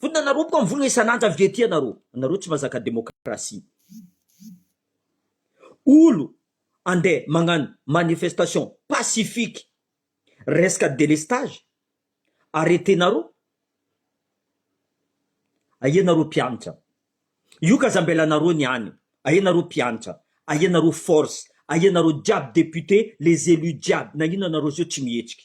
Vonona naroboka ny vola isan'andro avy ety ianareo, anareo tsy mazaka demokrasia. Olo andeha magnano manifestation pacifique resaka délestage arretenareo, aia nareo mpianatra, io ka zambelanareo ny any, aia nareo mpianatra, aia nareo force, aia nareo jiaby député, les élus jiaby, nagnino anareo zao tsy mihetsika.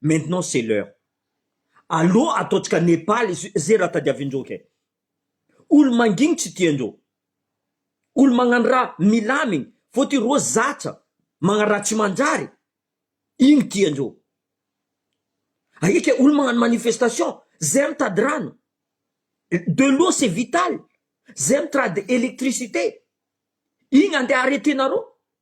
Maintenant c'est l'heure. Aleo ataontsika Nepal izay raha tadiavin'ireo kay. Olo mangigny tsy tian'ireo. Olo magnano raha milamigny fotony ireo zatra magnano raha tsy manjary igny tian'ireo. Aia kay olo magnano manifestation, zay mitady rano. De l'eau c'est vital. Zay mitrady électricité. Igny andeha arreter-nareo.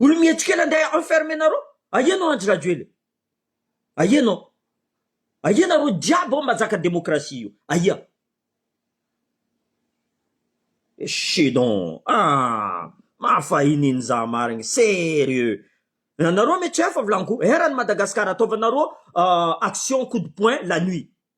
Olo mihetsika ela ndeha enfermer nareo ahiana ao Andry Rajoelina ahiana ao ahiana nareo jiaby ao mba zaka demokrasia io ahia echee donc aa mahafahininy za marigny serieux nareo me tsy hafa volagny ko erany Madagascar ataovanareo action coup de poing la nuit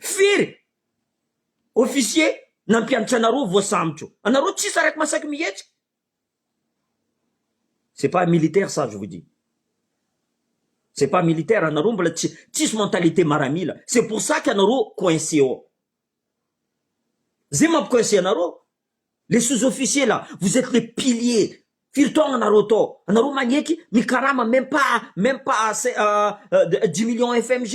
Firy officier nampianatra anareo vao sambotro? Anareo tsisy araka masaky mihetsika? C'est pas militaire ça je vous dis. C'est pas militaire anareo mbola tsy tsisy mentalité maramila. C'est pour ça que anareo coincé ao. Zay mampi-coincé anareo. Les sous officiers là vous etes les piliers firy taona anareo tao anareo magneky mikarama meme pas meme pas dix millions fmg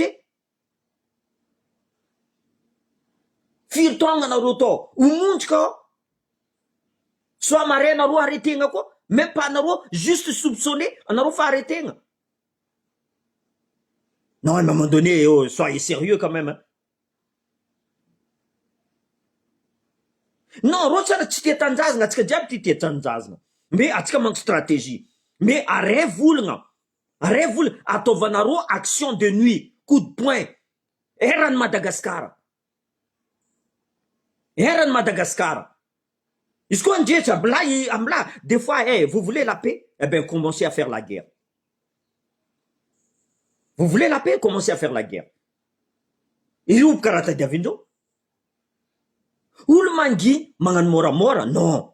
firy taona anareo tao ho monjy ka soa mare anareo hare tegna koa meme pas anareo juste soupçonner anareo fa hare tegna non à un moment donné soyez serieux quand meme. Non roche ana tsy tia tanjazgna atsika jiaby ty tia tanjazgna me atsika manko strategie me are volgna are vola ataovanarô action de nuit coup de poing erany Madagascar erany Madagascar. Izy koa ngeja milay am la des fois eh vous voulez la paix eh ben commencez à faire la guerre vous voulez la paix commencez à faire la guerre ireo mpikaraha tadiavin'ireo olo manginy magnano môramôra non.